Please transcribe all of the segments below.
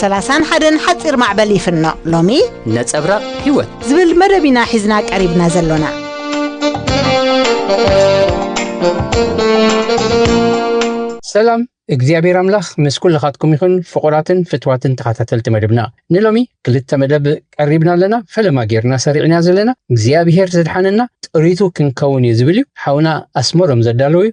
ሰላሳን ሓደን ሓጺር ማዕበል ይፍኖ ሎሚ ነጸብራቕ ህይወት ዝብል መደብ ኢና ሒዝና ቀሪብና ዘሎና ሰላም እግዚኣብሔር ኣምላኽ ምስ ኩልኻትኩም ይኹን ፍቑራትን ፍትዋትን ተኸታተልቲ መደብና ንሎሚ ክልተ መደብ ቀሪብና ኣለና ፈለማ ጌርና ሰሪዕና ዘለና እግዚኣብሔር ዘድሓነና ጥሪቱ ክንከውን እዩ ዝብል እዩ ሓውና ኣስመሮም ዘዳለዉ እዩ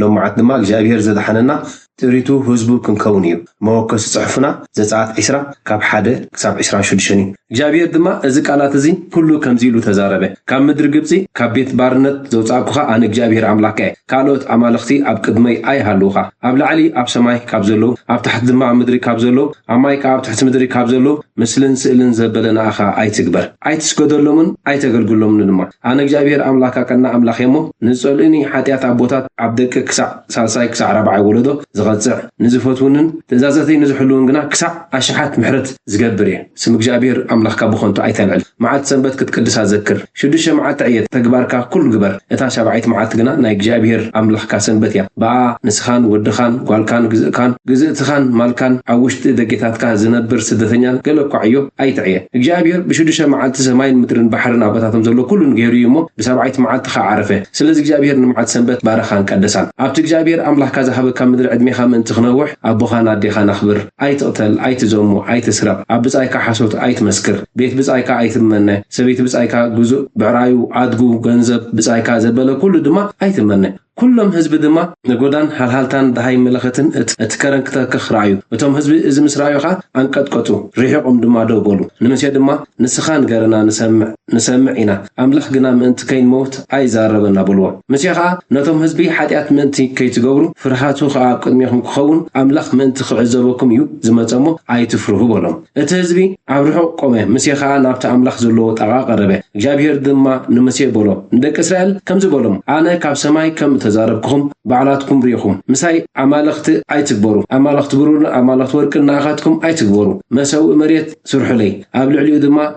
ሎም መዓልቲ ድማ እግዚኣብሄር ዘድሓነና ጥሪቱ ህዝቡ ክንከውን እዩ። መወከሲ ጽሑፍና ዘጸኣት ዕስራ ካብ ሓደ ክሳብ ዕስራን ሹድሽተን እዩ። እግዚኣብሄር ድማ እዚ ቃላት እዚ ኩሉ ከምዚ ኢሉ ተዛረበ፣ ካብ ምድሪ ግብጺ ካብ ቤት ባርነት ዘውጻእኩኻ ኣነ እግዚኣብሄር ኣምላኽካ እየ። ካልኦት ኣማልኽቲ ኣብ ቅድመይ ኣይሃልዉኻ። ኣብ ላዕሊ ኣብ ሰማይ ካብ ዘለዉ፣ ኣብ ታሕቲ ድማ ኣብ ምድሪ ካብ ዘለዉ፣ ኣብ ማይ ከኣ ኣብ ትሕቲ ምድሪ ካብ ዘለዉ ምስልን ስእልን ዘበለ ንኣኻ ኣይትግበር። ኣይትስገደሎምን ኣይተገልግሎምን ድማ። ኣነ እግዚኣብሄር ኣምላካ ቀናእ ኣምላክ እየ እሞ ንዝጸልኡኒ ሓጥያት ኣቦታት ኣብ ደቂ ክሳዕ ሳልሳይ ክሳዕ ራብዓይ ወለዶ ዝቀጽዕ ንዝፈትዉንን ትእዛዘተይ ንዝሕልዉን ግና ክሳዕ ኣሽሓት ምሕረት ዝገብር እየ ስም እግዚኣብሄር ኣምላካ ብከንቱ ኣይተልዕል መዓልቲ ሰንበት ክትቅድሳ ዘክር ሽዱሽተ መዓልቲ ዕየት ተግባርካ ኩሉ ግበር እታ ሻብዓይቲ መዓልቲ ግና ናይ እግዚኣብሄር ኣምላካ ሰንበት እያ ብኣ ንስካን ወድካን ጓልካን ግዝእካን ግዝእትካን ማልካን ኣብ ውሽጢ ደጌታትካ ዝነብር ስደተኛን ገለ እኳ ዕዮ ኣይትዕየ። እግዚኣብሄር ብሽዱሽተ መዓልቲ ሰማይን ምድርን ባሕርን ኣባታቶም ዘሎ ኩሉን ገይሩ እዩ እሞ፣ ብሳብዓይቲ መዓልቲ ኸኣ ዓረፈ። ስለዚ እግዚኣብሄር ንመዓልቲ ሰንበት ባረኻን ቀደሳን። ኣብቲ እግዚኣብሄር ኣምላኽካ ዝሃበካ ምድሪ ዕድሜኻ ምእንቲ ኽነውሕ፣ ኣቦኻን ኣዴኻን ኣኽብር። ኣይትቕተል፣ ኣይትዘሙ፣ ኣይትስረቕ፣ ኣብ ብጻይካ ሓሶት ኣይትመስክር፣ ቤት ብጻይካ ኣይትመነ፣ ሰበይቲ ብጻይካ፣ ግዙእ፣ ብዕራዩ፣ ኣድጉ፣ ገንዘብ፣ ብጻይካ፣ ዘበለ ኩሉ ድማ ኣይትመነ። ኩሎም ህዝቢ ድማ ነጎዳን ሃልሃልታን ደሃይ መለኸትን እቲ ከረን ክተክኽ ረኣዩ። እቶም ህዝቢ እዚ ምስ ረኣዩ ኸኣ ኣንቀጥቀጡ፣ ርሒቖም ድማ ደው በሉ። ንሙሴ ድማ፣ ንስኻ ንገረና፣ ንሰምዕ፣ ንሰምዕ ኢና፣ ኣምላኽ ግና ምእንቲ ከይንመውት ኣይዛረበና፣ በልዎ። ሙሴ ኸኣ ነቶም ህዝቢ፣ ሓጢኣት ምእንቲ ከይትገብሩ፣ ፍርሃቱ ኸኣ ኣብ ቅድሜኹም ክኸውን፣ ኣምላኽ ምእንቲ ኺዕዘበኩም እዩ ዝመጸ እሞ፣ ኣይትፍርሁ፣ በሎም። እቲ ህዝቢ ኣብ ርሑቕ ቆመ፣ ሙሴ ኸኣ ናብቲ ኣምላኽ ዘለዎ ጣቓ ቐረበ። እግዚኣብሄር ድማ ንሙሴ በሎ፣ ንደቂ እስራኤል ከምዚ በሎም፣ ኣነ ካብ ሰማይ ከም እተዛረብኩኹም፣ ባዕላትኩም ርኢኹም፣ ምሳይ ኣማልኽቲ ኣይትግበሩ፣ ኣማልኽቲ ብሩርን ኣማልኽቲ ወርቅን ንኣኻትኩም ኣይትግበሩ። መሰውኢ መሬት ስርሑለይ፣ ኣብ ልዕሊኡ ድማ።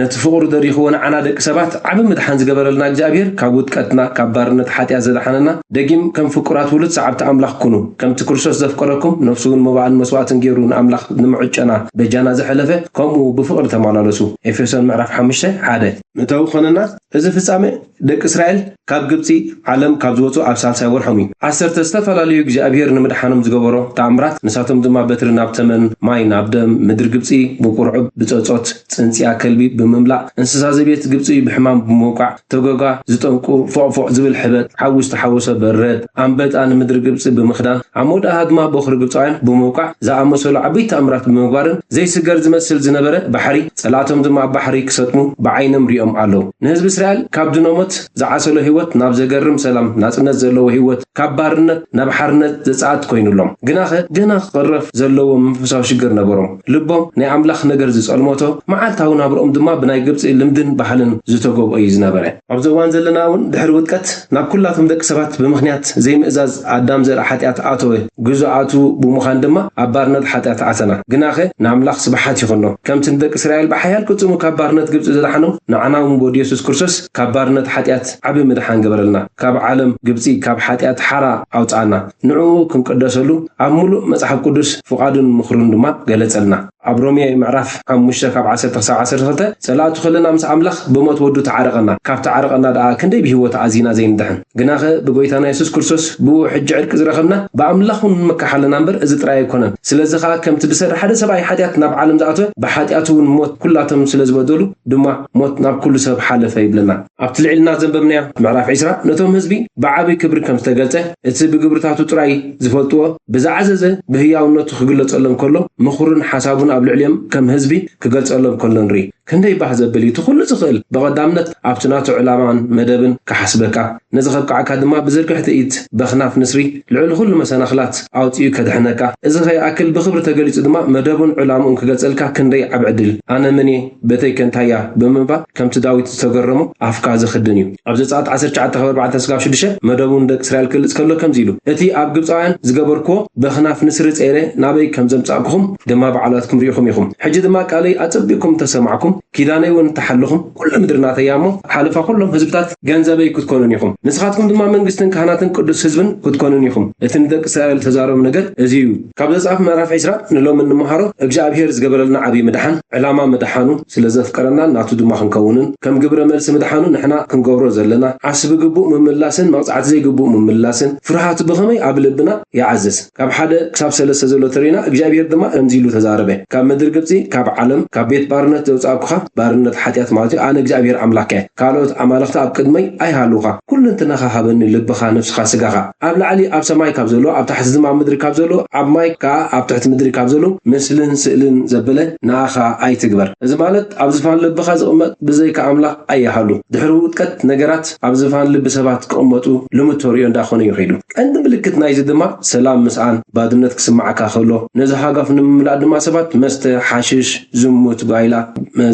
ነቲ ፍቕሩ ደሪኽዎ ንዓና ደቂ ሰባት ዓቢ ምድሓን ዝገበረልና እግዚኣብሄር ካብ ውድቀትና ካብ ባርነት ሓጢኣት ዘድሓነና ደጊም ከም ፍቁራት ውሉድ ሰዓብቲ ኣምላኽ ኩኑ ከምቲ ክርስቶስ ዘፍቀረኩም ነፍሱውን መባእን መስዋእትን ጌሩ ንኣምላኽ ንምዕጮና በጃና ዝሐለፈ ከምኡ ብፍቕሪ ተማላለሱ ኤፌሶን ምዕራፍ ሓሙሽተ ሓደ ምእታዊ ክኾነና እዚ ፍጻሜ ደቂ እስራኤል ካብ ግብጺ ዓለም ካብ ዝወጹ ኣብ ሳልሳይ ወርሖም እዩ። ዓሰርተ ዝተፈላለዩ እግዚኣብሄር ንምድሓኖም ዝገበሮ ተኣምራት ንሳቶም ድማ በትሪ ናብ ተመን፣ ማይ ናብ ደም፣ ምድሪ ግብጺ ብቁርዑብ፣ ብጸጾት፣ ጽንጽያ ከልቢ ብምምላእ፣ እንስሳ ዘቤት ግብጺ ብሕማም ብምውቃዕ፣ ተጎጋ ዝጠንቁ ፎቕ ፎቕ ዝብል ሕበጥ፣ ሓዊ ዝተሓወሶ በረድ፣ ኣንበጣ ንምድሪ ግብጺ ብምኽዳን፣ ኣብ መውዳእታ ድማ ቦኽሪ ግብጻውያን ብምውቃዕ ዝኣመሰሉ ዓበይቲ ተኣምራት ብምግባርን ዘይስገር ዝመስል ዝነበረ ባሕሪ ጸላእቶም ድማ ኣብ ባሕሪ ክሰጥሙ ብዓይኖም ሪኦም ኣለው። ንህዝቢ እስራኤል ካብ ድኖሞት ዝዓሰሎ ህይወት ናብ ዘገርም ሰላም ናጽነት ዘለዎ ህይወት ካብ ባርነት ናብ ሓርነት ዘጻእት ኮይኑሎም። ግናኸ ገና ክቕረፍ ዘለዎ መንፈሳዊ ሽግር ነበሮም። ልቦም ናይ ኣምላኽ ነገር ዝጸልሞቶ መዓልታዊ ናብርኦም ድማ ብናይ ግብጺ ልምድን ባህልን ዝተጎብኦዩ ዝነበረ። ኣብዚ እዋን ዘለና እውን ድሕሪ ውድቀት ናብ ኩላቶም ደቂ ሰባት ብምኽንያት ዘይምእዛዝ ኣዳም ዘርኢ ሓጢኣት ኣተወ፣ ግዙኣቱ ብምዃን ድማ ኣብ ባርነት ሓጢኣት ኣተና። ግናኸ ንኣምላኽ ስብሓት ይኹኖ ከምቲ ንደቂ እስራኤል ብሓያል ቅልጽሙ ካብ ባርነት ግብጺ ዘድሓኖም ንዓና እውን ብወዱ የሱስ ክርስቶስ ካብ ባርነት ሓጢኣት ዓቢ ምድሓን ገበረልና ካብ ዓለም ግብጺ ካብ ሓጢኣት ሓራ ኣውጽኣና ንዕኡ ክንቅደሰሉ ኣብ ምሉእ መጽሓፍ ቅዱስ ፍቓዱን ምኽሩን ድማ ገለጸልና። ኣብ ሮሜ ምዕራፍ ሓሙሽተ ካብ ዓሰርተ ክሳብ ዓሰርተ ክልተ ጸላእቱ ከለና ምስ ኣምላኽ ብሞት ወዱ ተዓረቀና፣ ካብ ተዓረቀና ደኣ ክንደይ ብህይወት ኣዚና ዘይንድሕን። ግናኸ ብጎይታና የሱስ ክርስቶስ ብእኡ ሕጂ ዕርቂ ዝረኸብና ብኣምላኽ ውን ንምካሕ ኣለና እምበር እዚ ጥራይ ኣይኮነን። ስለዚ ከኣ ከምቲ ብሰሪ ሓደ ሰብኣይ ሓጢኣት ናብ ዓለም ዝኣተወ ብሓጢኣት ውን ሞት ኩላቶም ስለ ዝበደሉ ድማ ሞት ናብ ኩሉ ሰብ ሓለፈ ይብለና። ኣብቲ ልዒልና ዘንበብናዮ ምዕራፍ ዕስራ ነቶም ህዝቢ ብዓቢ ክብሪ ከም ዝተገልጸ፣ እቲ ብግብርታቱ ጥራይ ዝፈልጥዎ ብዝዓዘዘ ብህያውነቱ ክግለጸሎም ከሎ ምኽሩን ሓሳቡን ኣብ ልዕሊኦም ከም ህዝቢ ክገልጸሎም ከሎ ንርኢ። ክንደይ ባህ ዘብል እዩ! እቲ ኩሉ ዝኽእል ብቐዳምነት ኣብቲ ናቱ ዕላማን መደብን ክሓስበካ፣ ነዚ ከብቅዓካ ድማ ብዝርግሕቲ ኢድ በኽናፍ ንስሪ ልዕሊ ኩሉ መሰናኽላት ኣውጺኡ ከድሕነካ። እዚ ከይኣክል ብኽብሪ ተገሊጹ ድማ መደቡን ዕላምኡን ክገልጸልካ ክንደይ ዓቢ ዕድል! ኣነ መን እየ? ቤተይከ እንታይ'ያ? ብምባል ከምቲ ዳዊት ዝተገረሞ ኣፍካ ዘኽድን እዩ። ኣብ ዘጸኣት ዓሰርተ ትሽዓተ ካብ ኣርባዕተ ስጋብ ሽዱሽተ መደቡ ንደቂ እስራኤል ክገልጽ ከሎ ከምዚ ኢሉ፣ እቲ ኣብ ግብጻውያን ዝገበርክዎ በኽናፍ ንስሪ ጸይረ ናበይ ከም ዘምጻእኩኹም ድማ ባዕላትኩም ርኢኹም ኢኹም። ሕጂ ድማ ቃለይ ኣጸቢቕኩም እንተ ሰማዕኩም፣ ኪዳነይውን እንተ ሓለኹም፣ ኵላ ምድሪ ናተይ እያ እሞ፣ ሓለፋ ኵሎም ህዝብታት ገንዘበይ ክትኰኑኒ ኢኹም። ንስኻትኩም ድማ መንግስትን ካህናትን ቅዱስ ህዝብን ክትኰኑኒ ኢኹም። እቲ ንደቂ እስራኤል እተዛረቦም ነገር እዚ እዩ። ካብ ዘጸኣት ምዕራፍ ዕስራ ንሎሚ እንመሃሮ፣ እግዚኣብሄር ዝገበረልና ዓብዪ ምድሓን፣ ዕላማ ምድሓኑ፣ ስለ ዘፍቀረናን ናቱ ድማ ክንከውንን ከም ግብረ መልሲ ምድሓኑ ንሕና ክንገብሮ ዘለና ዓስቢ ግቡእ ምምላስን መቕጻዕቲ ዘይግቡእ ምምላስን ፍርሃት ብኸመይ ኣብ ልብና ይዓዝዝ ካብ ሓደ ክሳብ ሰለስተ ዘሎ ተሪእና እግዚኣብሄር ድማ ከምዚ ኢሉ ተዛረበ ካብ ምድሪ ግብጺ ካብ ዓለም ካብ ቤት ባርነት ዘውጻእኩኻ ባርነት ሓጢኣት ማለት እዩ ኣነ እግዚኣብሄር ኣምላከ ካልኦት ኣማልኽቲ ኣብ ቅድመይ ኣይሃልዉኻ ኩሉንትናኻ ሃበኒ ልብኻ ነፍስኻ ስጋኻ ኣብ ላዕሊ ኣብ ሰማይ ካብ ዘሎ ኣብ ታሕቲ ዝም ኣብ ምድሪ ካብ ዘሎ ኣብ ማይ ከኣ ኣብ ትሕቲ ምድሪ ካብ ዘሎ ምስልን ስእልን ዘበለ ንኣኻ ኣይትግበር እዚ ማለት ኣብ ዝፋን ልብኻ ዝቕመጥ ብዘይካ ኣምላኽ ኣይሃሉ ድሕሪ ውድቀት ነገራት ኣብ ዝፋን ልቢ ሰባት ክቕመጡ ልሙድ ተርእዮ እንዳ ኮነ እዩ ከይዱ ቀንዲ ምልክት ናይዚ ድማ ሰላም ምስኣን ባድነት ክስምዓካ ከሎ ነዚ ሃጓፍ ንምምላእ ድማ ሰባት መስተ ሓሽሽ ዝሙት ጓይላ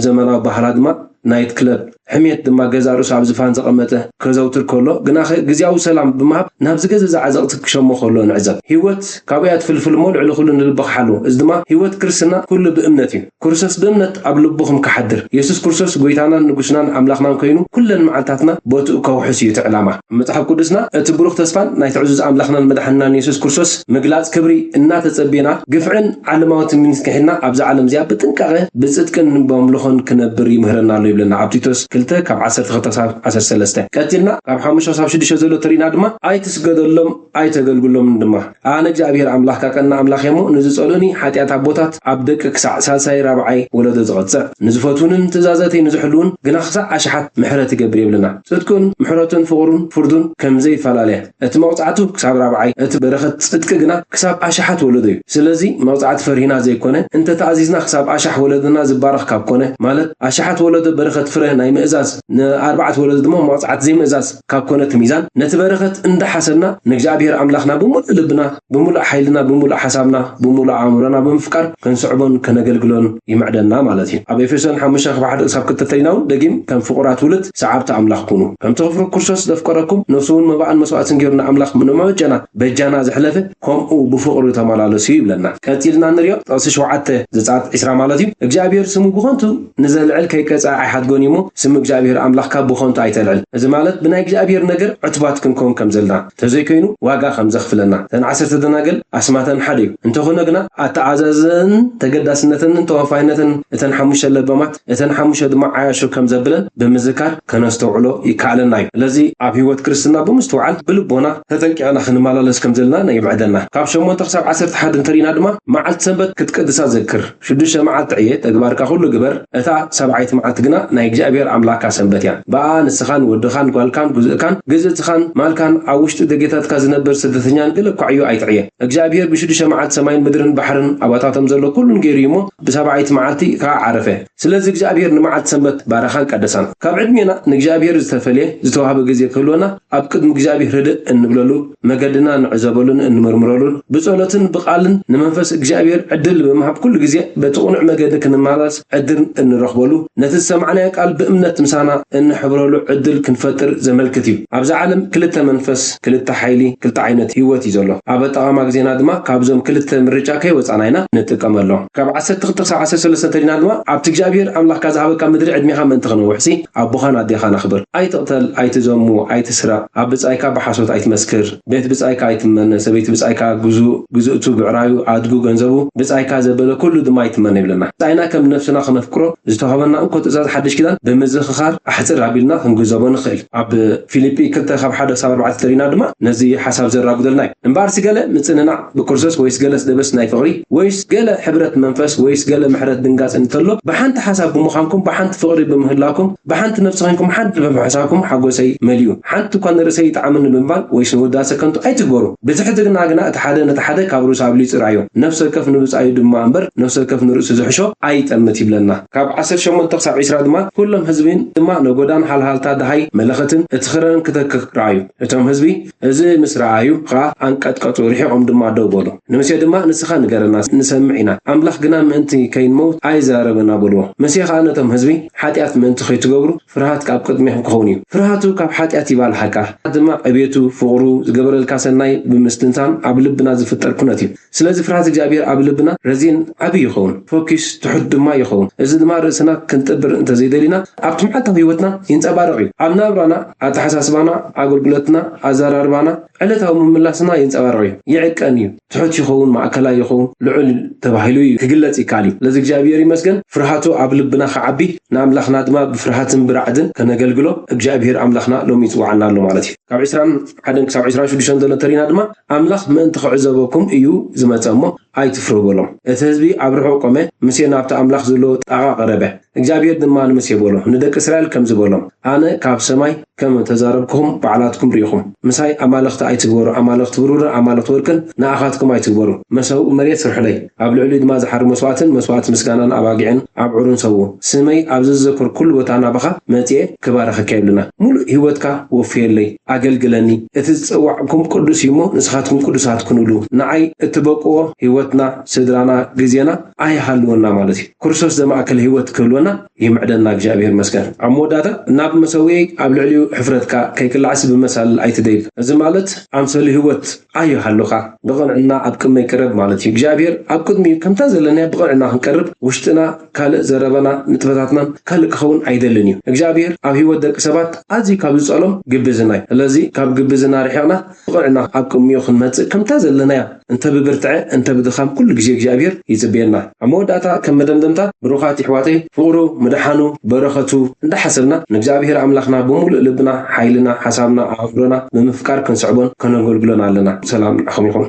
ዘመናዊ ባህላ ድማ ናይት ክለብ፣ ሕሜት ድማ ገዛእ ርእሱ ኣብ ዝፋን ዘቐመጠ፣ ከዘውትር ከሎ፣ ግናኸ ግዝያዊ ሰላም ብምሃብ ናብ ዝገዘዘ ዓዘቕቲ ክሸሞ ከሎ ንዕዘብ። ህይወት ካብኡ እያ ትፍልፍል እሞ ልዕሊ ኩሉ ንልብኻ ሓልዎ። እዚ ድማ ህይወት ክርስትና ኩሉ ብእምነት እዩ። ክሩሰስ ብእምነት ኣብ ልቡኹም ክሓድር። የሱስ ክሩሰስ ጎይታናን ንጉስናን ኣምላኽናን ኮይኑ ኩለን መዓልታትና ቦትኡ ከውሕስ እዩ እቲ ዕላማ። ኣብ መጽሓፍ ቅዱስና እቲ ብሩኽ ተስፋን ናይቲ ዕዙዝ ኣምላኽናን መድሓኒናን የሱስ ክርስቶስ ምግላጽ ክብሪ እናተጸብና ግፍዕን ዓለማዊ ትምኒትን ክሒድና ኣብዛ ዓለም እዚኣ ብጥንቃቐ ብጽድቅን ብኣምልኾን ክነብር ይምህረና ኣሎ ይብለና ኣብ ቲቶስ ክልተ ካብ ዓሰርተ ክልተ ክሳብ ዓሰርተ ሰለስተ ቀጺልና ካብ ሓሙሽተ ክሳብ ሽዱሽተ ዘሎ ተሪእና ድማ ኣይትስገደሎም ኣይተገልግሎምን ድማ። ኣነ እግዚኣብሄር ኣምላኽካ ቀናእ ኣምላኽ እየ እሞ፣ ንዝጸልኡኒ፣ ሓጢኣት ኣቦታት ኣብ ደቂ ክሳዕ ሳልሳይ ራብዓይ ወለዶ ዝቐጽዕ፣ ንዝፈትዉንን ትእዛዛተይ ንዝሕልዉን ግና ክሳዕ ኣሽሓት ምሕረት ይገብር የብልና። ጽድቅን ምሕረቱን ፍቕሩን ፍርዱን ከም ዘይፈላለ፣ እቲ መቕጻዕቱ ክሳብ ራብዓይ፣ እቲ በረኸት ጽድቂ ግና ክሳብ ኣሽሓት ወለዶ እዩ። ስለዚ መቕጻዕቲ ፈሪህና ዘይኮነ፣ እንተ ተኣዚዝና ክሳብ ኣሽሕ ወለዶና ዝባረኽ ካብ ኮነ፣ ማለት ኣሽሓት ወለዶ በረኸት ፍረ ናይ ምእዛዝ፣ ንኣርባዕተ ወለዶ ድማ መቕጻዕቲ ዘይምእዛዝ ካብ ኮነት ሚዛን ነቲ በረኸት እንዳሓሰብና ንእግዚኣብሄር ኣምላኽና ብምሉእ ልብና ብምሉእ ሓይልና ብምሉእ ሓሳብና ብምሉእ ኣእምሮና ብምፍቃር ክንስዕቦን ከነገልግሎን ይምዕደና ማለት እዩ። ኣብ ኤፌሶን ሓሙሽተ ካብ ሓደ ክሳብ ክልተ እንተሪና እውን ደጊም ከም ፍቑራት ውሉድ ሰዓብቲ ኣምላኽ ኩኑ ከምቲ ክፍሪ ክርስቶስ ዘፍቀረኩም ነፍሱ እውን መባእን መስዋእትን ገይሩ ንኣምላኽ ንመበጀና በጃና ዝሕለፈ ከምኡ ብፍቕሪ ተመላለሱ ይብለና። ቀጺልና እንሪኦ ጥቕሲ ሸውዓተ ዘጸኣት ዕስራ ማለት እዩ እግዚኣብሄር ስሙ ብኸንቱ ንዘልዕል ከይቀጽዐ ኣይሓድጎን እዩሞ ስም እግዚኣብሄር ኣምላኽካ ብኸንቱ ኣይተልዕል። እዚ ማለት ብናይ እግዚኣብሄር ነገር ዕቱባት ክንከውን ከም ዘለና፣ ተዘይኮይኑ ዋጋ ከም ዘኽፍለና። እተን ዓሰርተ ደናግል ኣስማተን ሓደ እዩ፣ እንተኾነ ግና ኣተዓዛዝነኣንን ተገዳስነተንን ተወፋይነተን እተን ሓሙሽተ ለባማት እተን ሓሙሽተ ድማ ዓያሹ ከም ዘብለን ብምዝካር ከነስተውዕሎ ይከኣለና እዩ። ስለዚ ኣብ ሕይወት ክርስትና ብምስትውዓል ብልቦና ተጠንቂቕና ክንመላለስ ከም ዘለና የምዕደና። ካብ ሸሞንተ ክሳብ ዓሰርተ ሓድ እንተርኢና ድማ መዓልቲ ሰንበት ክትቅድሳ ዘክር። ሽዱሽተ መዓልቲ ዕየ፣ ተግባርካ ዅሉ ግበር፣ እታ ሳብዓይቲ መዓልቲ ግና ናይ እግዚኣብሄር ኣምላኽካ ሰንበት እያ። ብኣኣ ንስኻን ወድኻን ጓልካን ጕዝእካን ግዝእትኻን ማልካን ኣብ ውሽጢ ደጌታትካ ዝነብር ስደተኛን ገለ እኳ ዕዮ ኣይትዕየ። እግዚኣብሄር ብሽዱሽተ መዓልቲ ሰማይን ምድርን ባሕርን ኣባታቶም ዘሎ ኵሉን ገይሩ እዩ እሞ፣ ብሳብዓይቲ መዓልቲ ኸኣ ዓረፈ። ስለዚ እግዚኣብሄር ንመዓልቲ ሰንበት ባረኻን ቀደሳን። ካብ ዕድሜና ንእግዚኣብሄር ዝተፈልየ ዝተዋህበ ግዜ ክህልወና ኣብ ቅድሚ እግዚኣብሄር ህድእ እንብለሉ፣ መገድና እንዕዘበሉን እንምርምረሉን ብጸሎትን ብቃልን ንመንፈስ እግዚኣብሔር ዕድል ብምሃብ ኩሉ ግዜ በቲ ቅኑዕ መገዲ ክንመላለስ ዕድር እንረኽበሉ ነቲ ዝሰማዕናዮ ቃል ብእምነት ምሳና እንሕብረሉ ዕድል ክንፈጥር ዘመልክት እዩ። ኣብዛ ዓለም ክልተ መንፈስ ክልተ ሓይሊ ክልተ ዓይነት ሕይወት እዩ ዘሎ። ኣብ ኣጠቓቕማ ግዜና ድማ ካብዞም ክልተ ምርጫ ከይወጻና ኢና ንጥቀመሎም። ካብ ዓሰርተ ክልተ ክሳብ ዓሰርተ ሰለስተ እንተሊና ድማ ኣብቲ እግዚኣብሔር ኣምላኽካ ዝሃበካ ምድሪ ዕድሜኻ ምእንቲ ክነውሕሲ፣ ኣቦኻን ኣዴኻን ኣኽብር። ኣይትቕተል፣ ኣይትዘሙ፣ ኣይትስረቕ፣ ኣብ ብጻይካ ብሓሶት ኣይትመስክር፣ ቤት ብጻይካ ኣይትመነ፣ ሰበይቲ ብጻይካ፣ ግዙእ፣ ግዝእቱ፣ ብዕራዩ፣ ኣድጉ፣ ገንዘቡ፣ ብጻይካ ዘበለ ኩሉ ድማ ኣይትመነ ይብለና። ብጻይና ከም ነፍስና ክነፍቅሮ ዝተዋህበና እንኮ ትእዛዝ ሓድሽ ኪዳን ብምዝኽኻር ኣሕጽር ኣቢልና ክንግንዘቦ ንኽእል። ኣብ ፊልጲ ክልተ ካብ ሓደ ክሳብ ኣርባዕተ ተሪእና ድማ ነዚ ሓሳብ ዘራጉደልና እዩ። እምበኣርሲ ገለ ምጽንናዕ ብክርስቶስ ወይስ ገለጽ ደበስ ናይ ፍቕሪ ወይስ ገለ ሕብረት መንፈስ ወይስ ገለ ምሕረት ድንጋጽ እንተሎ ብሓንቲ ሓሳብ ብምዃንኩም ብሓንቲ ፍቕሪ ብምህላኩም ብሓንቲ ነፍሲ ኮይንኩም ሓንቲ ብምሕሳኩም ሓጎሰይ መሊኡ ሓንቲ እኳ ንርእሰይ ይጥዓመኒ ብምባል ወይስ ንውዳሰ ከንቱ ኣይትግበሩ ብትሕትግና ግና እቲ ሓደ ነቲ ሓደ ካብ ርእሱ ኣብሊጹ ርኣዮ ነፍሲ ወከፍ ንብጻዩ ድማ እምበር ነፍሲ ወከፍ ንርእሱ ዝሕሾ ኣይጠምት ይብለና ካብ ዓሰርተ ሸሞንተ ክሳብ ዕስራ ድማ ኩሎም ህዝቢን ድማ ነጎዳን ሃልሃልታ ደሃይ መለኸትን እቲ ክረርን ክተክክ ረኣዩ እቶም ህዝቢ እዚ ምስ ረኣዩ ኸኣ ኣንቀጥቀጡ፣ ርሒቖም ድማ ደው በሉ። ንሙሴ ድማ፣ ንስኻ ንገረና፣ ንሰምዕ ኢና፣ ኣምላኽ ግና ምእንቲ ከይንመውት ኣይዛረበና በልዎ። ሙሴ ኸኣ ነቶም ህዝቢ፣ ሓጢኣት ምእንቲ ኸይትገብሩ፣ ፍርሃት ኣብ ቅድሜኹም ኪኸውን እዩ። ፍርሃቱ ካብ ሓጢኣት ይባልሓካ፣ ፍርሃት ድማ ዕቤቱ፣ ፍቕሩ፣ ዝገበረልካ ሰናይ ብምስትንታን ኣብ ልብና ዚፍጠር ኩነት እዩ። ስለዚ ፍርሃት እግዚኣብሄር ኣብ ልብና ረዚን ዓቢ ይኸውን፣ ፈኲስ፣ ትሑት ድማ ይኸውን። እዚ ድማ ርእስና ክንጥብር እንተ ዘይደሊና ኣብቲ መዓልታዊ ህይወትና ይንጸባረቕ እዩ። ኣብ ናብራና፣ ኣተሓሳስባና፣ ኣገልግሎትና፣ ኣዘራርባና፣ ዕለታዊ ምምላስና ይንጸባረቕ እዩ። ይዕቀን እዩ፣ ትሑት ይኸውን፣ ማእከላይ ይኸውን፣ ልዑል ተባሂሉ እዩ ክግለጽ ይከኣል እዩ። ስለዚ እግዚኣብሄር ይመስገን ፍርሃቱ ኣብ ልብና ክዓቢ ንኣምላኽና ድማ ብፍርሃትን ብራዕድን ከነገልግሎ እግዚኣብሄር ኣምላኽና ሎሚ ይጽውዓና ኣሎ ማለት እዩ። ካብ ዕስራን ሓደን ክሳብ ዕስራን ሽዱሽተን ዘሎ ተሪና ድማ ኣምላኽ ምእንቲ ኺዕዘበኩም እዩ ዝመጸ እሞ፣ ኣይትፍርሁ በሎም። እቲ ህዝቢ ኣብ ርሑቕ ቆመ፣ ሙሴ ናብቲ ኣምላኽ ዘለዎ ጣቓ ቐረበ። እግዚኣብሄር ድማ ንሙሴ በሎ፣ ንደቂ እስራኤል ከምዚ በሎም፣ ኣነ ካብ ሰማይ ከም እተዛረብኩኹም፣ ባዕላትኩም ርኢኹም። ምሳይ ኣማልኽቲ ኣይትግበሩ፣ ኣማልኽቲ ብሩርን ኣማልኽቲ ወርቅን ንኣኻትኩም ኣይትግበሩ። መሰውኢ መሬት ስርሑለይ፣ ኣብ ልዕሊኡ ድማ ዝሓሪ መስዋእትን መስዋእቲ ምስጋናን ኣባጊዕን ኣብዑርን ሰውኡ። ስመይ ኣብ ዘዘከርኩሉ ቦታ ናባኻ መጺኤ ክባርኸካ የብልና፣ ምሉእ ህይወትካ ወፍየለይ። ኣገልግለኒ። እቲ ዝጸዋዕኩም ቅዱስ እዩ እሞ ንስኻትኩም ቅዱሳት ኩኑሉ። ንዓይ እትበቅዎ ሕይወትና፣ ስድራና፣ ግዜና ኣይሃልወና ማለት እዩ። ክርስቶስ ዘማእከለ ሕይወት ክህልወና ይምዕደና እግዚኣብሔር ይመስገን። ኣብ መወዳእታ ናብ መሰውየይ ኣብ ልዕሊኡ ሕፍረትካ ከይክላዕሲ ብመሳልል ኣይትደይብ እዚ ማለት ኣምሰሉ ሕይወት፣ ኣዩ ሃልኻ ንቕንዕና ኣብ ቅድመይ ቅረብ ማለት እዩ እግዚኣብሔር ኣብ ቅድሚኡ ከምታ ዘለናያ ብቕንዕና ክንቀርብ ውሽጥና ካልእ ዘረበና ንጥፈታትናን ካልእ ክኸውን ኣይደልን እዩ እግዚኣብሔር ኣብ ህይወት ደቂ ሰባት ኣዝዩ ካብ ዝጸሎም ግብዝና እዩ ስለዚ ካብ ግብዝና ርሒቕና ብቕንዕና ኣብ ቅሚኡ ክንመጽእ ከምታ ዘለናያ እንተ ብብርትዐ እንተ ብድኻም ኩሉ ግዜ እግዚኣብሔር ይጽብየና ኣብ መወዳእታ ከም መደምደምታ ብሩኻት የሕዋተይ ፍቕሩ ምድሓኑ በረኸቱ እንዳሓሰብና ንእግዚኣብሄር ኣምላኽና ብምሉእ ልብና ሓይልና ሓሳብና ኣእምሮና ብምፍቃር ክንስዕቦን ከነገልግሎን ኣለና ሰላም ንዓኹም ይኹን።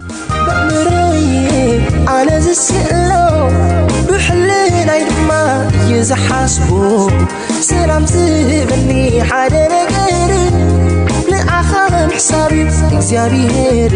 ብኣእምሮይ ኣነ ዝስእሎ ብሕልናይ ድማ እዩ ዝሓስቦ ሰላም ዝህበኒ ሓደ ነገር ንዓኻ ምሕሳብ እዩ እግዚኣብሄር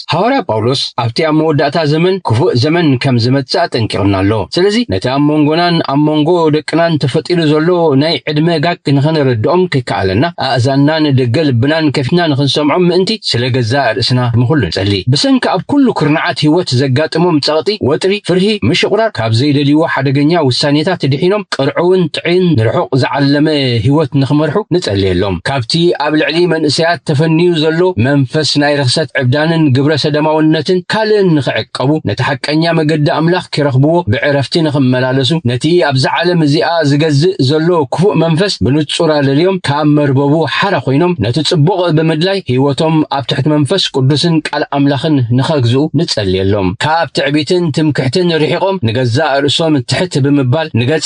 ሃዋርያ ጳውሎስ ኣብቲ ኣብ መወዳእታ ዘመን ክፉእ ዘመን ከም ዝመጽእ ኣጠንቂቑና ኣሎ። ስለዚ ነቲ ኣብ መንጎናን ኣብ መንጎ ደቅናን ተፈጢሩ ዘሎ ናይ ዕድመ ጋግ ንኸነረድኦም ከይከኣለና ኣእዛንና ንደገ ልብናን ከፊትና ንኽንሰምዖም ምእንቲ ስለ ገዛእ ርእስና ንኹሉ ንጸሊ። ብሰንኪ ኣብ ኩሉ ኩርናዓት ህይወት ዘጋጥሞም ጸቕጢ፣ ወጥሪ፣ ፍርሂ፣ ምሽቑራር፣ ካብ ዘይደልይዎ ሓደገኛ ውሳኔታት ድሒኖም ቅርዑውን ንጥዕይን ንርሑቕ ዝዓለመ ህይወት ንኽመርሑ ንጸልየሎም። ካብቲ ኣብ ልዕሊ መንእሰያት ተፈንዩ ዘሎ መንፈስ ናይ ርኽሰት ዕብዳንን ግብረ ሰደማውነትን ካልእን ንኽዕቀቡ፣ ነቲ ሓቀኛ መገዲ ኣምላኽ ኪረኽብዎ ብዕረፍቲ ንኽመላለሱ፣ ነቲ ኣብዛ ዓለም እዚኣ ዚገዝእ ዘሎ ክፉእ መንፈስ ብንጹር ኣለልዮም ካብ መርበቡ ሓራ ኮይኖም ነቲ ጽቡቕ ብምድላይ ህይወቶም ኣብ ትሕቲ መንፈስ ቅዱስን ቃል ኣምላኽን ንኸግዝኡ ንጸልየሎም። ካብ ትዕቢትን ትምክሕትን ርሒቖም ንገዛእ ርእሶም ትሕት ብምባል ንገጸ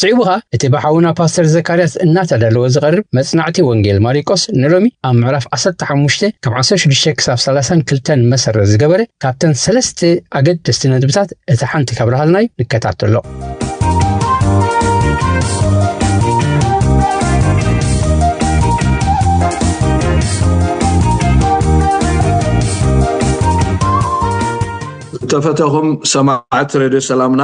ስዒቡ ኸኣ እቲ ብሓውና ፓስተር ዘካርያስ እናተዳለወ ዝቐርብ መጽናዕቲ ወንጌል ማሪቆስ ንሎሚ ኣብ ምዕራፍ ዓሰርተ ሓሙሽተ ካብ ዓሰርተ ሽዱሽተ ክሳብ ሰላሳን ክልተን መሰረት ዝገበረ ካብተን ሰለስተ ኣገደስቲ ነጥብታት እታ ሓንቲ ካብርሃልናዩ ንከታተሎ። ዝተፈተኹም ሰማዕቲ ሬድዮ ሰላምና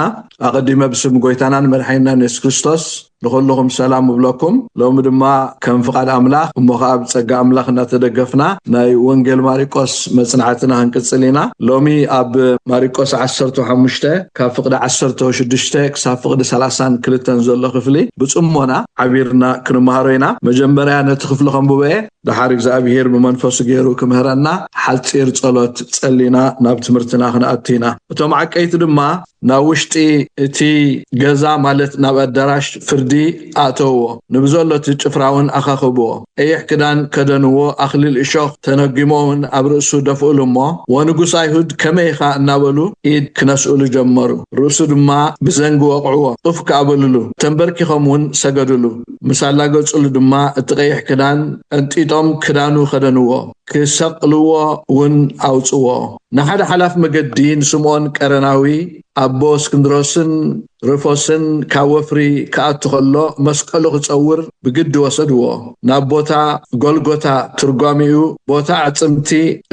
ኣቀዲመ ብስም ጎይታናን መድሓኒናን የሱስ ክርስቶስ ንኹሉኹም ሰላም እብለኩም ሎሚ ድማ ከም ፍቃድ ኣምላኽ እሞ ኸኣ ብጸጋ ኣምላኽ እናተደገፍና ናይ ወንጌል ማሪቆስ መጽናዕትና ክንቅጽል ኢና ሎሚ ኣብ ማሪቆስ ዓሰርተ ሓሙሽተ ካብ ፍቅዲ ዓሰርተ ሽዱሽተ ክሳብ ፍቅዲ ሰላሳን ክልተን ዘሎ ክፍሊ ብጽሞና ዓቢርና ክንመሃሮ ኢና መጀመርያ ነቲ ክፍሊ ከንብቦ እየ ደሓር እግዚኣብሄር ብመንፈሱ ገይሩ ክምህረና ሓጺር ጸሎት ጸሊና ናብ ትምህርትና ክንኣቱ ኢና እቶም ዓቀይቲ ድማ ናብ ውሽጢ እቲ ገዛ ማለት ናብ ኣዳራሽ ፍርዲ ኣእተውዎ። ንብዘሎ እቲ ጭፍራውን ኣኻኽብዎ። ቀይሕ ክዳን ከደንዎ፣ ኣኽሊል እሾኽ ተነጒሞምን ኣብ ርእሱ ደፍኡሉ እሞ፣ ወንጉስ ኣይሁድ ከመይ ኢኻ እናበሉ ኢድ ክነስኡሉ ጀመሩ። ርእሱ ድማ ብዘንጊ ወቕዕዎ፣ ኡፍ ከኣ በሉሉ። ተንበርኪኾም እውን ሰገዱሉ። ምስ ኣላገጹሉ ድማ እቲ ቀይሕ ክዳን ቀንጢጦም ክዳኑ ከደንዎ፣ ክሰቕልዎ እውን ኣውጽዎ። ንሓደ ሓላፊ መገዲ ንስምኦን ቀረናዊ፣ ኣቦ እስክንድሮስን ርፎስን ካብ ወፍሪ ክኣቱ ከሎ መስቀሉ ክጸውር ብግዲ ወሰድዎ። ናብ ቦታ ጎልጎታ ትርጓሜኡ ቦታ ኣዕጽምቲ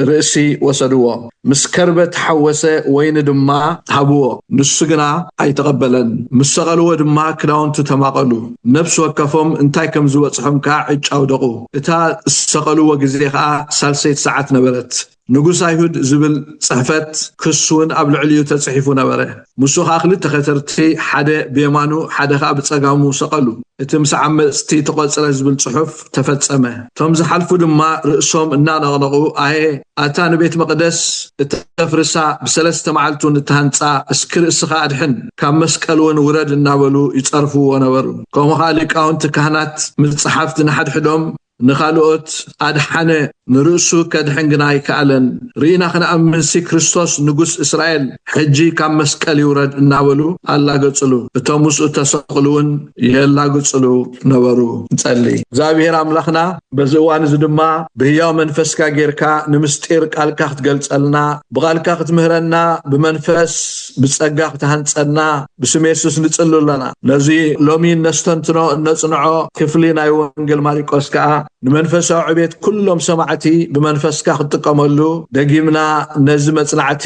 ርእሲ ወሰድዎ። ምስ ከርበ ተሓወሰ ወይኒ ድማ ሃብዎ። ንሱ ግና ኣይተቐበለን። ምስ ሰቐልዎ ድማ ክዳውንቱ ተማቐሉ። ነፍሲ ወከፎም እንታይ ከም ዝበጽሖም ከኣ ዕጫ ኣውደቑ። እታ ዝሰቐልዎ ግዜ ከኣ ሳልሰይቲ ሰዓት ነበረት። ንጉስ ኣይሁድ ዝብል ጽሕፈት ክስውን ኣብ ልዕሊኡ ተጽሒፉ ነበረ። ንሱ ኸኣ ክልተ ከተርቲ ሓደ ብየማኑ ሓደ ኸኣ ብጸጋሙ ሰቐሉ። እቲ ምስ ዓመጽቲ ተቖጽረ ዝብል ጽሑፍ ተፈጸመ። እቶም ዝሓልፉ ድማ ርእሶም እናነቕነቑ ኣየ ኣታ ንቤት መቕደስ እተፍርሳ ብሰለስተ መዓልቲውን እትሃንጻ እስኪ ርእስኻ ኣድሕን ካብ መስቀልውን ውረድ እናበሉ ይጸርፍዎ ነበሩ። ከምኡ ኸኣ ሊቃውንቲ ካህናት ምስ ጸሓፍቲ ንሓድሕዶም ንኻልኦት ኣድሓነ፣ ንርእሱ ከድሕን ግና ኣይከኣለን። ርኢና ክንኣምንሲ ክርስቶስ ንጉስ እስራኤል ሕጂ ካብ መስቀል ይውረድ እናበሉ ኣላገጽሉ፣ እቶም ምስኡ እተሰቕሉውን የላግጽሉ ነበሩ። ንጸሊ። እግዚኣብሄር ኣምላኽና፣ በዚ እዋን እዚ ድማ ብህያው መንፈስካ ጌርካ ንምስጢር ቃልካ ክትገልጸልና፣ ብቓልካ ክትምህረና፣ ብመንፈስ ብጸጋ ክትሃንጸና፣ ብስም የሱስ ንጽሊ ኣሎና። ነዚ ሎሚ እነስተንትኖ እነጽንዖ ክፍሊ ናይ ወንጌል ማሪቆስ ከኣ ንመንፈሳዊ ዕቤት ኩሎም ሰማዕቲ ብመንፈስካ ክትጥቀመሉ ደጊምና ነዚ መጽናዕቲ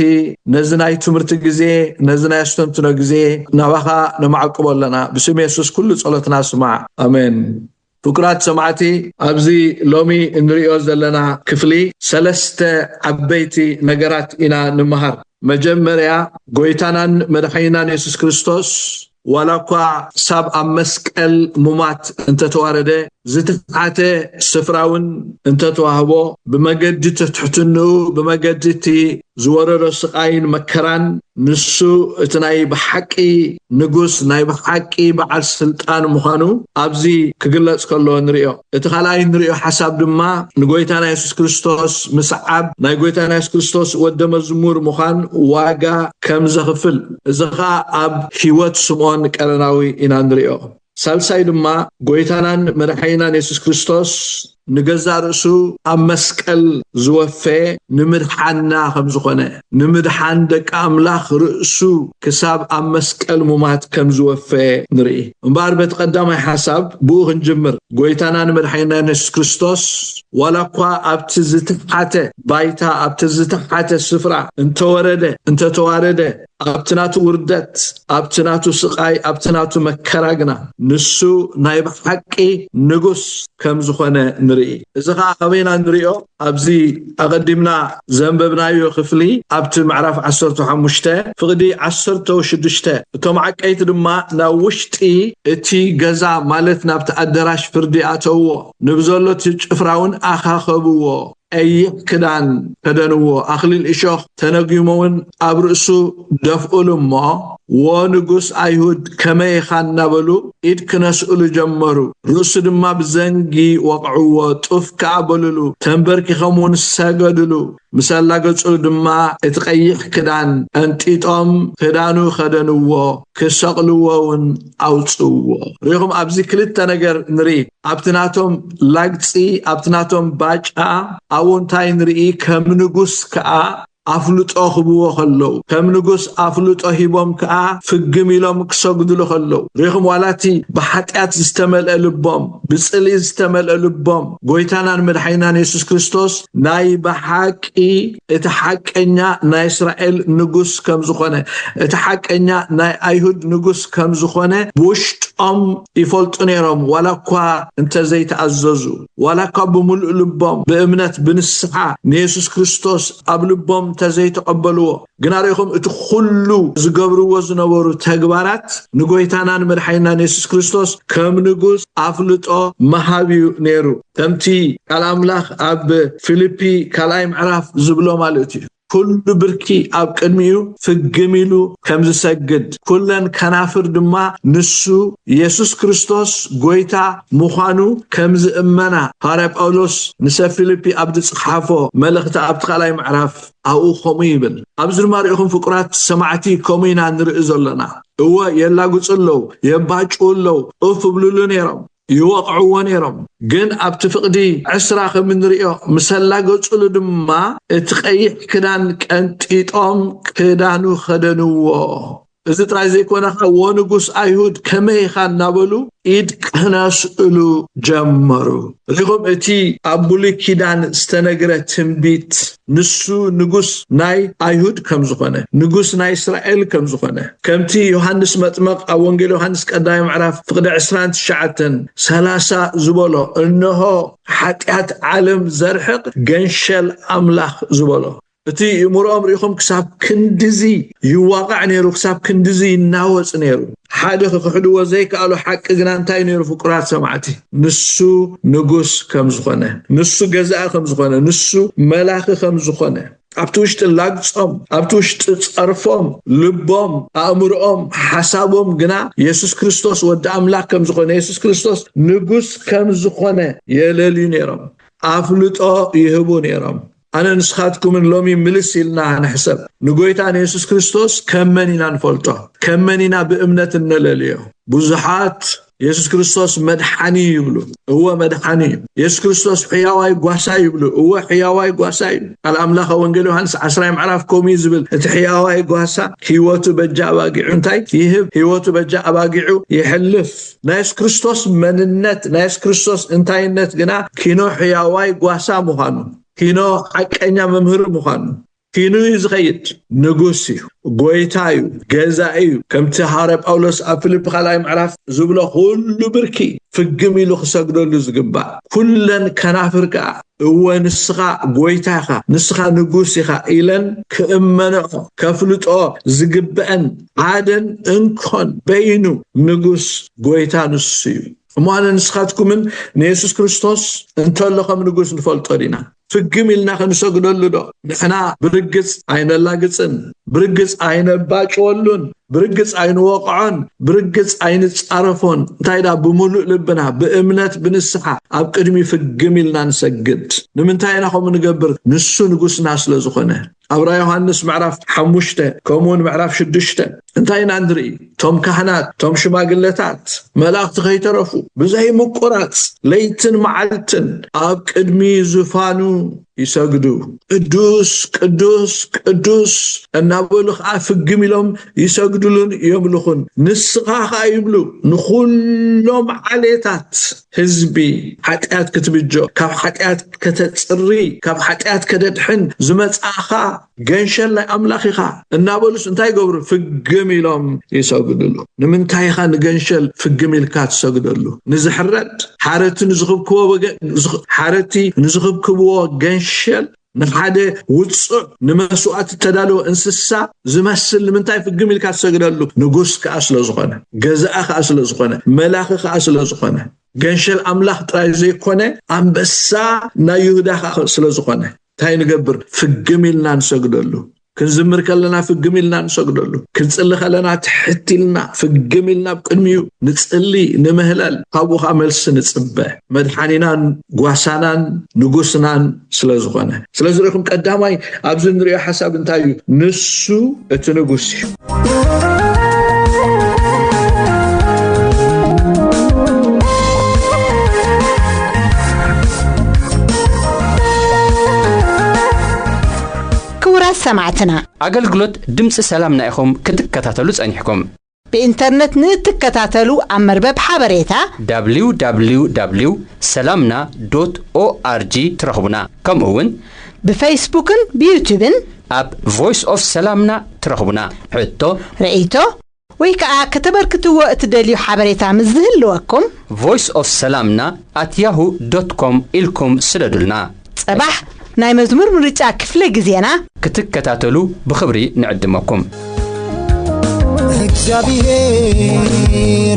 ነዚ ናይ ትምህርቲ ግዜ ነዚ ናይ ኣስተንትኖ ግዜ ናባኻ ነማዕቅቦ ኣሎና። ብስም የሱስ ኩሉ ጸሎትና ስማዕ ኣሜን። ፍቁራት ሰማዕቲ ኣብዚ ሎሚ እንርእዮ ዘለና ክፍሊ ሰለስተ ዓበይቲ ነገራት ኢና ንመሃር። መጀመርያ ጎይታናን መድሓኒናን የሱስ ክርስቶስ ዋላ እኳ ክሳብ ኣብ መስቀል ሙማት እንተተዋረደ ዝተሓተ ስፍራውን እንተተዋህቦ ብመገዲ ትሕትንኡ ብመገዲ እቲ ዝወረዶ ስቓይን መከራን ንሱ እቲ ናይ ብሓቂ ንጉስ ናይ ብሓቂ በዓል ስልጣን ምዃኑ ኣብዚ ክግለጽ ከሎ ንርእዮ። እቲ ካልኣይ እንርእዮ ሓሳብ ድማ ንጎይታና የሱስ ክርስቶስ ምስዓብ ናይ ጎይታና የሱስ ክርስቶስ ወደ መዝሙር ምዃን ዋጋ ከም ዘኽፍል እዚ ከኣ ኣብ ሕይወት ስምኦን ቀረናዊ ኢና እንርእዮ። ሳልሳይ ድማ ጎይታናን መድሓኒናን የሱስ ክርስቶስ ንገዛእ ርእሱ ኣብ መስቀል ዝወፈየ ንምድሓንና ከም ዝኾነ ንምድሓን ደቂ ኣምላኽ ርእሱ ክሳብ ኣብ መስቀል ሙማት ከም ዝወፈየ ንርኢ። እምበኣር በቲ ቀዳማይ ሓሳብ ብኡ ክንጅምር ጎይታናን መድሓኒናን የሱስ ክርስቶስ ዋላ እኳ ኣብቲ ዝተሓተ ባይታ ኣብቲ ዝተሓተ ስፍራ እንተወረደ እንተተዋረደ ኣብቲ ናቱ ውርደት ኣብቲ ናቱ ስቃይ ኣብቲ ናቱ መከራ ግና ንሱ ናይ ብሓቂ ንጉስ ከም ዝኾነ ንርኢ። እዚ ከኣ ካበይ ኢና ንሪኦ ኣብዚ ኣቀዲምና ዘንበብናዮ ክፍሊ ኣብቲ ምዕራፍ ዓሰርተ ሓሙሽተ ፍቅዲ ዓሰርተው ሽዱሽተ እቶም ዓቀይቲ ድማ ናብ ውሽጢ እቲ ገዛ ማለት ናብቲ ኣደራሽ ፍርዲ ኣተውዎ ንብዘሎ እቲ ጭፍራውን ኣኻኸብዎ። ቀይሕ ክዳን ከደንዎ፣ ኣኽሊል እሾኽ ተነጒሞውን ኣብ ርእሱ ደፍኡሉ እሞ፣ ዎ ንጉስ ኣይሁድ ከመይ ኢኻ እናበሉ ኢድ ክነስእሉ ጀመሩ። ርእሱ ድማ ብዘንጊ ወቕዕዎ፣ ጡፍ ከኣ በሉሉ፣ ተንበርኪኾምውን ሰገዱሉ። ምስ ኣላገጹሉ ድማ እቲ ቀይሕ ክዳን ቀንጢጦም ክዳኑ ከደንዎ፣ ክሰቕልዎውን ኣውጽእዎ። ርኢኹም፣ ኣብዚ ክልተ ነገር ንርኢ። ኣብቲ ናቶም ላግጺ ኣብቲ ናቶም ባጫ ኣብኡ እንታይ ንርኢ ከም ንጉስ ከኣ ኣፍልጦ ክብዎ ከለዉ ከም ንጉስ ኣፍልጦ ሂቦም ከኣ ፍግም ኢሎም ክሰግድሉ ከለዉ ሪኢኹም ዋላ እቲ ብሓጢኣት ዝተመልአ ልቦም ብጽልኢ ዝተመልአ ልቦም ጎይታናን መድሓኒናን የሱስ ክርስቶስ ናይ ብሓቂ እቲ ሓቀኛ ናይ እስራኤል ንጉስ ከም ዝኾነ እቲ ሓቀኛ ናይ ኣይሁድ ንጉስ ከም ዝኾነ ብውሽጦም ይፈልጡ ነይሮም፣ ዋላ እኳ እንተ ዘይተኣዘዙ፣ ዋላ እኳ ብምሉእ ልቦም ብእምነት ብንስሓ ንየሱስ ክርስቶስ ኣብ ልቦም እንተ ዘይተቐበልዎ፣ ግና ርኢኹም እቲ ዅሉ ዝገብርዎ ዝነበሩ ተግባራት ንጐይታናን መድሓኒናን የሱስ ክርስቶስ ከም ንጉስ ኣፍልጦ ምሃብ እዩ ነይሩ። ከምቲ ቃል ኣምላኽ ኣብ ፊልፒ ካልኣይ ምዕራፍ ዝብሎ ማለት እዩ። ኩሉ ብርኪ ኣብ ቅድሚኡ ፍግም ኢሉ ከም ዝሰግድ፣ ኩለን ከናፍር ድማ ንሱ፣ የሱስ ክርስቶስ፣ ጐይታ ምዃኑ ከም ዝእመና ሃዋርያ ጳውሎስ ንሰብ ፊልጲ ኣብ ዝጽሓፎ መልእኽቲ ኣብቲ ካልኣይ ምዕራፍ ኣብኡ ከምኡ ይብል። ኣብዚ ድማ ርኢኹም ፍቁራት ሰማዕቲ ከምኡ ኢና ንርኢ ዘሎና። እወ የላግጹ ኣለዉ፣ የባጭዉ ኣለዉ፣ ኡፍ እብልሉ ነይሮም። ይወቕዕዎ ነይሮም ግን ኣብቲ ፍቕዲ ዕስራ ከም እንርእዮ ምስ ኣላገጹሉ ድማ እቲ ቀይሕ ክዳን ቀንጢጦም ክዳኑ ከደንዎ እዚ ጥራይ ዘይኮነ ከኣ ዎንጉስ ኣይሁድ ከመይ ኢኻ እናበሉ ኢድ ክነስእሉ ጀመሩ ሪኹም እቲ ኣብ ብሉይ ኪዳን ዝተነግረ ትንቢት ንሱ ንጉስ ናይ ኣይሁድ ከም ዝኾነ፣ ንጉስ ናይ እስራኤል ከም ዝኾነ፣ ከምቲ ዮሃንስ መጥመቕ ኣብ ወንጌል ዮሃንስ ቀዳማይ ምዕራፍ ፍቕዲ ዕስራን ትሽዓተን ሰላሳ ዝበሎ እንሆ ሓጢኣት ዓለም ዘርሕቕ ገንሸል ኣምላኽ ዝበሎ እቲ እምሮኦም ርኢኹም ክሳብ ክንድዚ ይዋቓዕ ነይሩ፣ ክሳብ ክንድዚ ይናወጽ ነይሩ። ሓደ ክኽሕድዎ ዘይከኣሉ ሓቂ ግና እንታይ ነይሩ ፍቁራት ሰማዕቲ? ንሱ ንጉስ ከም ዝኾነ፣ ንሱ ገዛኢ ከም ዝኾነ፣ ንሱ መላኺ ከም ዝኾነ ኣብቲ ውሽጢ ላግጾም፣ ኣብቲ ውሽጢ ጸርፎም፣ ልቦም፣ ኣእምሮኦም፣ ሓሳቦም ግና የሱስ ክርስቶስ ወዲ ኣምላኽ ከም ዝኾነ፣ የሱስ ክርስቶስ ንጉስ ከም ዝኾነ የለልዩ ነይሮም። ኣፍልጦ ይህቡ ነይሮም። ኣነ ንስኻትኩምን ሎሚ ምልስ ኢልና ንሕሰብ ንጎይታ ንየሱስ ክርስቶስ ከም መን ኢና ንፈልጦ ከም መን ኢና ብእምነት እነለልዮ ብዙሓት የሱስ ክርስቶስ መድሓኒ ይብሉ እወ መድሓኒ እዩ የሱስ ክርስቶስ ሕያዋይ ጓሳ ይብሉ እወ ሕያዋይ ጓሳ እዩ ቃል ኣምላኸ ወንጌል ዮሃንስ ዓስራይ ምዕራፍ ከምኡ እዩ ዝብል እቲ ሕያዋይ ጓሳ ህይወቱ በጃ ኣባጊዑ እንታይ ይህብ ህይወቱ በጃ ኣባጊዑ ይሕልፍ ናይ የሱስ ክርስቶስ መንነት ናይ የሱስ ክርስቶስ እንታይነት ግና ኪኖ ሕያዋይ ጓሳ ምዃኑ ኪኖ ሓቀኛ መምህር ምዃኑ ኪኑ እዩ ዝኸይድ ንጉስ እዩ ጎይታ እዩ ገዛ እዩ ከምቲ ሃረ ጳውሎስ ኣብ ፊልፕ ካልኣይ ምዕራፍ ዝብሎ ኩሉ ብርኪ ፍግም ኢሉ ክሰግደሉ ዝግባእ ኩለን ከናፍር ከዓ እወ ንስኻ ጎይታ ኢኻ ንስኻ ንጉስ ኢኻ ኢለን ክእመንኦ ከፍልጦ ዝግበአን ሓደን እንኮን በይኑ ንጉስ ጎይታ ንሱ እዩ እሞ ኣነ ንስኻትኩምን ንየሱስ ክርስቶስ እንተሎ ከም ንጉስ ንፈልጦ ዲና ፍግም ኢልና ክንሰግደሉ ዶ ንሕና ብርግጽ ኣይነላግጽን ብርግጽ ኣይነባጭወሉን ብርግጽ ኣይንወቕዖን ብርግጽ ኣይንጻረፎን እንታይ ዳ ብምሉእ ልብና ብእምነት ብንስሓ ኣብ ቅድሚ ፍግም ኢልና ንሰግድ ንምንታይ ኢና ከምኡ ንገብር ንሱ ንጉስና ስለ ዝኾነ ኣብ ራ ዮሃንስ ምዕራፍ ሓሙሽተ ከምኡውን ምዕራፍ ሽዱሽተ እንታይ ኢና ንርኢ እቶም ካህናት እቶም ሽማግለታት መላእኽቲ ከይተረፉ ብዘይምቁራፅ ለይትን መዓልትን ኣብ ቅድሚ ዙፋኑ ይሰግዱ ቅዱስ ቅዱስ ቅዱስ እናበሉ ከዓ ፍግም ኢሎም ይሰግድሉን የምልኹን ንስኻ ከዓ ይብሉ ንኹሎም ዓሌታት ህዝቢ ሓጢኣት ክትብጆ ካብ ሓጢኣት ከተጽሪ ካብ ሓጢኣት ከደድሕን ዝመጻእኻ ገንሸል ናይ ኣምላኽ ኢኻ እናበሉስ እንታይ ይገብሩ ፍግም ኢሎም ይሰግድሉ ንምንታይ ኢኻ ንገንሸል ፍግም ኢልካ ትሰግደሉ ንዝሕረድ ሓረቲ ንዝኽብክቦ ሓረቲ ንዝኽብክብዎ ገንሸል ንሓደ ውጹዕ ንመስዋእቲ እተዳለወ እንስሳ ዝመስል ንምንታይ ፍግም ኢልካ ትሰግደሉ? ንጉስ ከኣ ስለ ዝኾነ፣ ገዛኢ ከኣ ስለ ዝኾነ፣ መላኺ ከኣ ስለ ዝኾነ፣ ገንሸል ኣምላኽ ጥራይ ዘይኮነ ኣንበሳ ናይ ይሁዳ ከኣ ስለ ዝኾነ እንታይ ንገብር? ፍግም ኢልና ንሰግደሉ። ክንዝምር ከለና ፍግም ኢልና ንሰግደሉ፣ ክንጽሊ ከለና ትሕት ኢልና ፍግም ኢልና ኣብ ቅድሚኡ ንጽሊ፣ ንምህለል፣ ካብኡ ከኣ መልሲ ንጽበ። መድሓኒናን ጓሳናን ንጉስናን ስለ ዝኾነ። ስለዚ ርኢኹም ቀዳማይ ኣብዚ እንርእዮ ሓሳብ እንታይ እዩ? ንሱ እቲ ንጉስ እዩ። ክቡራት ሰማዕትና! ኣገልግሎት ድምጺ ሰላምና ኢኹም ክትከታተሉ ጸኒሕኩም። ብኢንተርነት ንእትከታተሉ ኣብ መርበብ ሓበሬታ። www ሰላምና ዶት ኦኣርጂ ትረኽቡና። ከምኡ ውን። ብፈይስቡክን ብዩቱብን። ኣብ ቮይስ ኦፍ ሰላምና ትረኽቡና። ሕቶ። ርእይቶ። ወይ ከኣ ከተበርክትዎ እትደልዩ ሓበሬታ ምስ ዝህልወኩም። ቮይስ ኦፍ ሰላምና ኣት ያሁ ዶት ኮም ኢልኩም ስደዱልና። ጸባሕ ናይ መዝሙር ምርጫ ክፍለ ግዜና። ክትከታተሉ ብኽብሪ ንዕድመኩም። እግዚኣብሔር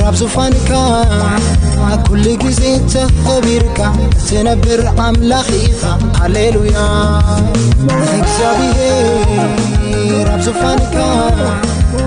ኣብ ዙፋንካ ኣብ ኩሉ ግዜ ተኸቢርካ ትነብር ኣምላኽ ኢኻ ሃሌሉያ እግዚኣብሔር ኣብ ዙፋንካ